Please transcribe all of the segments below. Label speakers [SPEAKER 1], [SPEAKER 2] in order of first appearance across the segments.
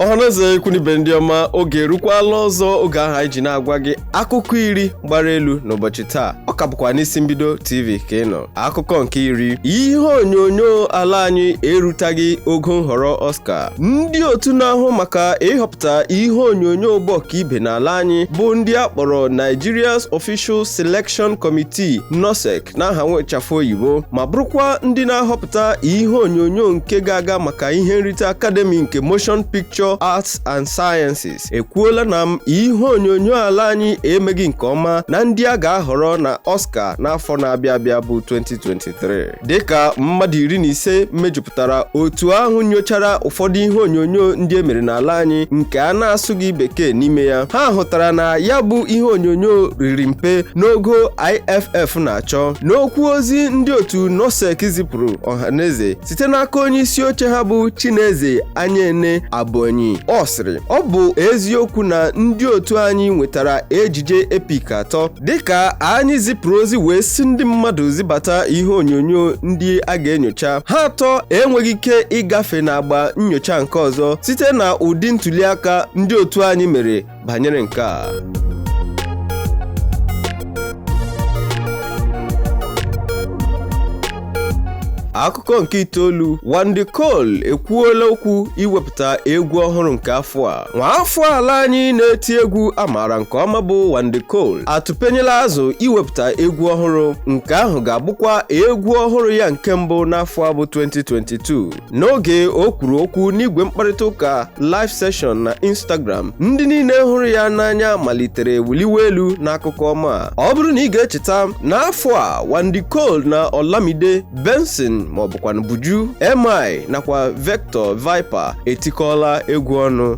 [SPEAKER 1] ọhaneze ikwu n'ibe ndị ọma oge erukwala ọzọ oge ahụ anyị ji na-agwa gị akụkọ iri gbara elu n'ụbọchị taa ọ ka bụkwa n'isi mbido tv ka ị nọ akụkọ nke iri ihe onyonyo ala anyị erutaghị ogo nhọrọ Oscar ndị otu na-ahụ maka ịhọpụta ihe onyonyo bụ ọkaibe n'ala anyị bụ ndị a kpọrọ Nigeria's Official Selection Committee NOSEC n'aha nwechafụ oyibo ma bụrụkwa ndị na-ahọpụta ihe onyonyo nke ga-aga maka ihe nrite Academy nke Motion Picture Arts and Sciences ekwuola na m ihe onyonyo ala anyị emeghị nke ọma na ndị a ga-ahọrọ na Oscar n'afọ na-abịa abịa bụ 2023 dịka mmadụ iri na ise mejupụtara otu ahụ nyochara ụfọdụ ihe onyonyo ndị e mere n'ala anyị nke a na-asụghị bekee n'ime ya ha hụtara na ya bụ ihe onyonyo riri mpe n'ogo IFF na-achọ n'okwu ozi ndị otu NOSEC zipụrụ ọhaneze site n'aka onye isi oche ha bụ Chineze Anyaene Abonyi ọ sịrị ọ bụ eziokwu na ndị otu anyị nwetara ejije epik atọ dịka anyị zipụrụ ozi wee sị ndị mmadụ zibata ihe onyonyo ndị a ga-enyocha ha atọ enweghị ike ịgafe n'agba nyocha nke ọzọ site na ụdị ntuliaka ndị otu anyị mere banyere nke a akụkọ nke itoolu Wande Coal ekwuola okwu iwepụta egwu ọhụrụ nke afọ a nwaafọ ala anyị na-eti egwu a maara nke ọma bụ Wande Coal atụpenyela azụ iwepụta egwu ọhụrụ nke ahụ ga-abụkwa egwu ọhụrụ ya nke mbụ n'afọ a bụ 2022 n'oge o kwuru okwu n'igwe mkparịta ụka live session na instagram ndị niile hụrụ ya n'anya malitere wuliwe elu n'akụkọ ọma a. ọ bụrụ na ị ga-echeta n'afọ a Wande Coal na Olamide Benson maọbụkwanụ Buju MI nakwa Vector Viper etikọọla egwu ọnụ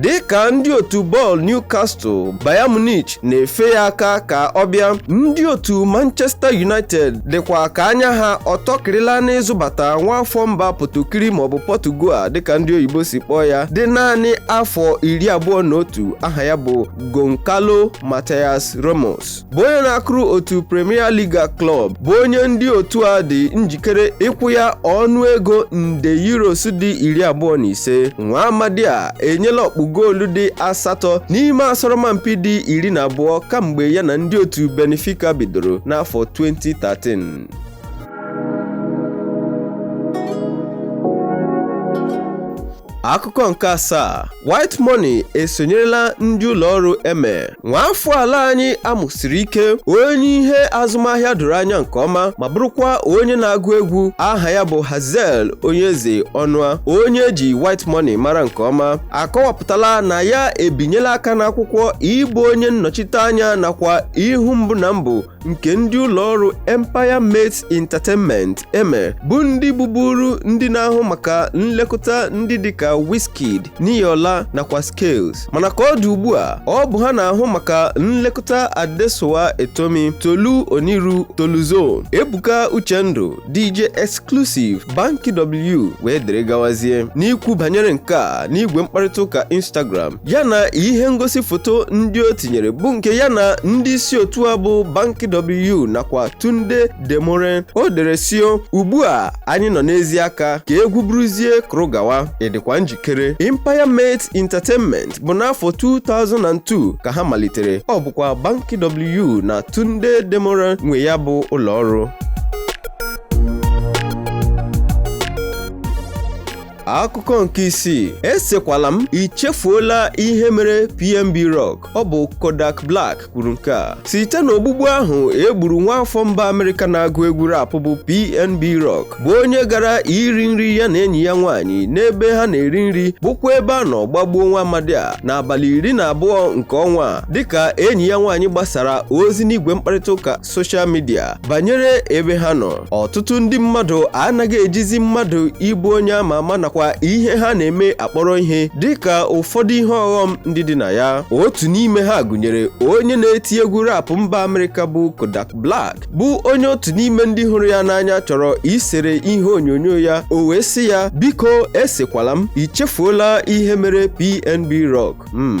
[SPEAKER 1] dị ka ndị otu bọọlụ Newcastle Bayern Munich na-efe ya aka ka ọ bịa ndị otu Manchester United dịkwa ka anya ha ọtọkịrịla n'ịzụbata nwa afọ mba Potokiri maọbụ Portugal dịka ndị oyibo si kpọọ ya dị naanị afọ iri abụọ na otu aha ya bụ Goncalo Matias Ramos bụ onye na-akụrụ otu Premier Liga klọb bụ onye ndị otu a dị njikere ịkwụ ya ọnụ ego nde euros dị iri abụọ na ise nwa amadi a enyela ọkpụ goolu dị asatọ n'ime asọrọmpi dị iri na abụọ kamgbe ya na ndị otu Benfica bidoro n'afọ 2013 akụkọ nke asaa white money esonyerela ndị ụlọ ọrụ eme nwaafọ ala anyị amụsiri ike onye ihe azụmahịa doro anya nke ọma ma bụrụkwa onye na-agụ egwu aha ya bụ hazel onyeze ọnụa onye eji white money mara nke ọma akọwapụtala na ya ebinyela aka n'akwụkwọ ịbụ onye nnọchite anya nakwa ihu mbụ na mbụ nke ndị ụlọ ọrụ Empire Mates Entertainment EME bụ ndị bụburu ndị na-ahụ maka nlekọta ndị dịka Wizkid, Niyola nakwa Skales mana ka ọ dị ugbu a ọ bụ ha na-ahụ maka nlekọta Adesua Etomi, Tolu Oniru, Toluzo, Ebuka Uchendu DJ Exclusive, Banky W wee dịrị gawazie. N'ikwu banyere nke a n'igwe mkparịta ụka Instagram, ya na ihe ngosi foto ndị o tinyere bụ nke ya na ndị isi otu a bụ Banky W nakwa Tunde Demuren. O dere sị o, ugbu a anyị nọ n'ezi aka ka egwu bụrụzie kụrụ gawa, ị dịkwa nji kere Empire Mates Entertainment bụ n'afọ 2002 ka ha malitere ọ bụkwa Banky W na Tunde Demuren nwe ya bụ ụlọ ọrụ akụkọ nke isii esekwala m ichefuola ihe mere PNB Rock ọ bụ Kodak Black kwuru nke a site n'ogbugbu ahụ e gburu nwa afọ mba amerịka na-agụ egwu rap bụ pnb rock bụ onye gara iri nri ya na enyi ya nwaanyị n'ebe ha na-eri nri bụkwa ebe a nọ gbagbuo nwa amadi a n'abalị iri na abụọ nke ọnwa a dịka enyi ya nwaanyị gbasara ozi n'igwe mkparịta ụka soshal midia banyere ebe ha nọ ọtụtụ ndị mmadụ anaghị ejizi mmadụ ịbụ onye ama ama nakwa ihe ha na-eme akpọrọ ihe dịka ụfọdụ ihe ọghọm ndị dị na ya otu n'ime ha gụnyere onye na-eti egwu rap mba amerịka bụ Kodak Black bụ onye otu n'ime ndị hụrụ ya n'anya chọrọ isere ihe onyonyo ya o wee sị ya biko esekwala m ichefuola ihe mere PNB Rock mm.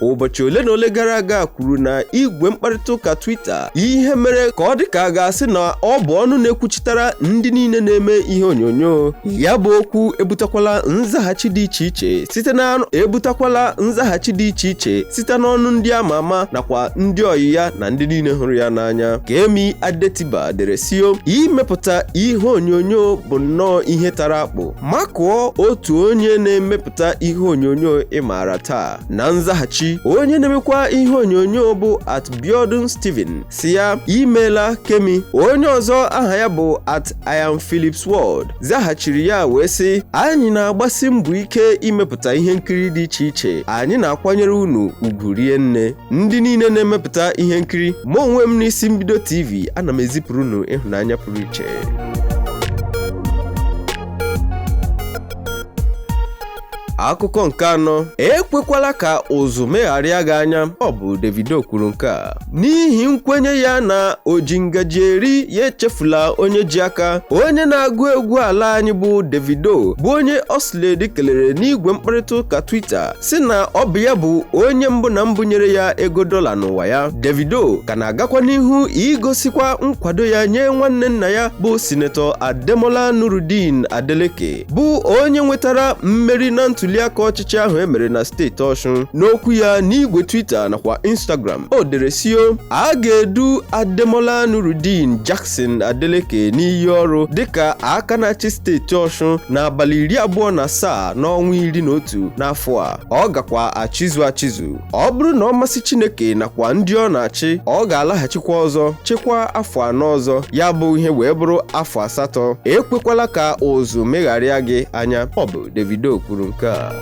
[SPEAKER 1] ụbọchị ole na ole gara aga kwuru na igwe mkparịta ụka Twitter ihe mere ka ọ dị ka a ga-asị na ọ bụ ọnụ na-ekwuchitara ndị niile na-eme ihe onyonyo ya bụ okwu ebutakwala nzaghachi dị iche iche site na ebutakwala nzaghachi dị iche iche site n'ọnụ ndị ama ama nakwa ndị ọyị ya na ndị niile hụrụ ya n'anya Kemi Adetiba dere sị o imepụta ihe onyonyo bụ nnọọ ihe tara akpụ makụọ otu onye na-emepụta ihe onyonyo ị maara taa na nzaghachi onye na-emekwa ihe onyonyo bụ at Biodun Stephen sị ya imeela Kemi onye ọzọ aha ya bụ at I am Phillips World zaghachiri ya wee sị anyị na-agbasi mbọ ike imepụta ihe nkiri dị iche iche anyị na-akwanyere unu ugwu rie nne ndị niile na-emepụta ihe nkiri mụ onwe m n'isi mbido TV ana m ezipụrụ unu ịhụnanya pụrụ iche akụkọ nke anọ ekwekwala ka ụzụ megharịa gị anya ọ bụ Davido kwuru nke a n'ihi nkwenye ya na o ji ngaji eri ya echefula onye ji aka onye na-agụ egwu ala anyị bụ Davido bụ onye Oxlade kelere n'igwe mkparịta ụka Twitter sị na ọ bụ ya bụ onye mbụ na mbụ nyere ya ego dọla n'ụwa ya Davido ka na-agakwa n'ihu igosikwa nkwado ya nye nwanne nna ya bụ sinetọ Ademola Nurudeen Adeleke bụ onye nwetara mmeri na ntuliaka ọchịchị ahụ emere na steeti Ọshụn n'okwu ya n'igwe Twitter nakwa Instagram o dere sị o a ga-edu Ademola Nurudeen Jackson Adeleke n'iyi ọrụ dịka aka na-achị steeti Ọshụn n'abalị iri abụọ na asaa n'ọnwa iri na otu n'afọ a ọ gakwa achịzu achịzu ọ bụrụ na ọ masị Chineke nakwa ndị ọ na-achị ọ ga-alaghachikwa ọzọ chịkwaa afọ anọ ọzọ ya bụ ihe wee bụrụ afọ asatọ ekwekwala ka ụzụ megharịa gị anya ọ bụ Davido kwuru nke a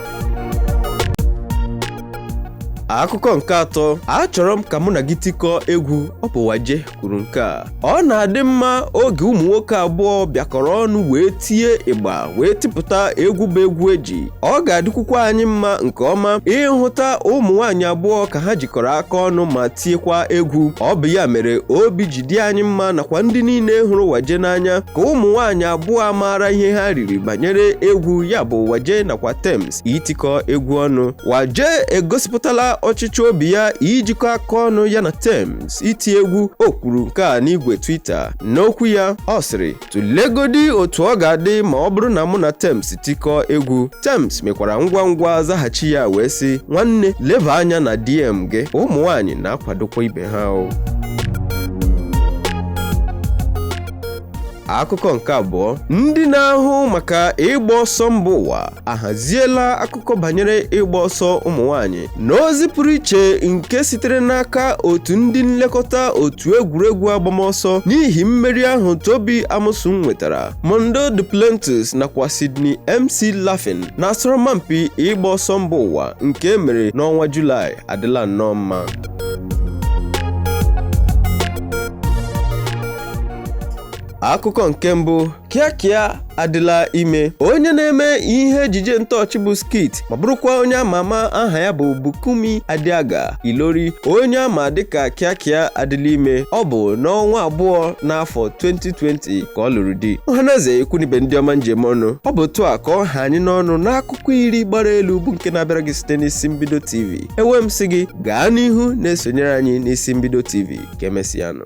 [SPEAKER 1] akụkọ nke atọ achọrọ m ka mụ na gị tikọọ egwu ọ bụ Waje kwuru nke a ọ na-adị mma oge ụmụ nwoke abụọ bịakọrọ ọnụ wee tie ịgba wee tipụta egwu bụ egwu eji ọ ga-adịkwukwa anyị mma nke ọma ịhụta ụmụ nwaanyị abụọ ka ha jikọrọ aka ọnụ ma tiekwa egwu ọ bụ ya mere obi ji dị anyị mma nakwa ndị niile hụrụ Waje n'anya ka ụmụ nwaanyị abụọ maara ihe ha riri banyere egwu ya bụ Waje nakwa Tems itikọ egwu ọnụ Waje egosipụtala ọchịchọ obi ya ijikọ aka ọnụ ya na Tems iti egwu o kwuru nke a n'igwe Twitter n'okwu ya ọ sịrị tụlegodi otu ọ ga-adị ma ọ bụrụ na mụ na Tems tikọọ egwu Tems mekwara ngwa ngwa zaghachi ya wee sị nwanne leba anya na DM gị ụmụ nwaanyị na-akwadokwa ibe ha o akụkọ nke abụọ ndị na-ahụ maka ịgba ọsọ mba ụwa ahaziela akụkọ banyere ịgba ọsọ ụmụ nwaanyị n'ozi pụrụ iche nke sitere n'aka otu ndị nlekọta otu egwuregwu agbamọsọ n'ihi mmeri ahụ Tobi Amusan nwetara Mondo Duplantis nakwa Sydney McLaughlin n'asọrọmpi ịgba ọsọ mba ụwa nke emere n'ọnwa Julaị adịla nnọọ mma akụkọ nke mbụ Kiekie adịla ime onye na-eme ihe ejije ntọọchị bụ skit ma bụrụkwa onye ama ama aha ya bụ Bukunmi Adeaga Ilori onye a ma dịka Kiekie adịla ime ọ bụ n'ọnwa abụọ n'afọ 2020 ka ọ lụrụ di ọhanaeze ikwu na ibe ndị ọma m ji eme ọnụ ọ bụ otu a ka ọ ha anyị n'ọnụ n'akụkọ iri gbara elu bụ nke na-abịara gị site n'isi mbido tv ewee m sị gị gaa n'ihu na-esonyere anyị n'isi mbido tv ka emesịanụ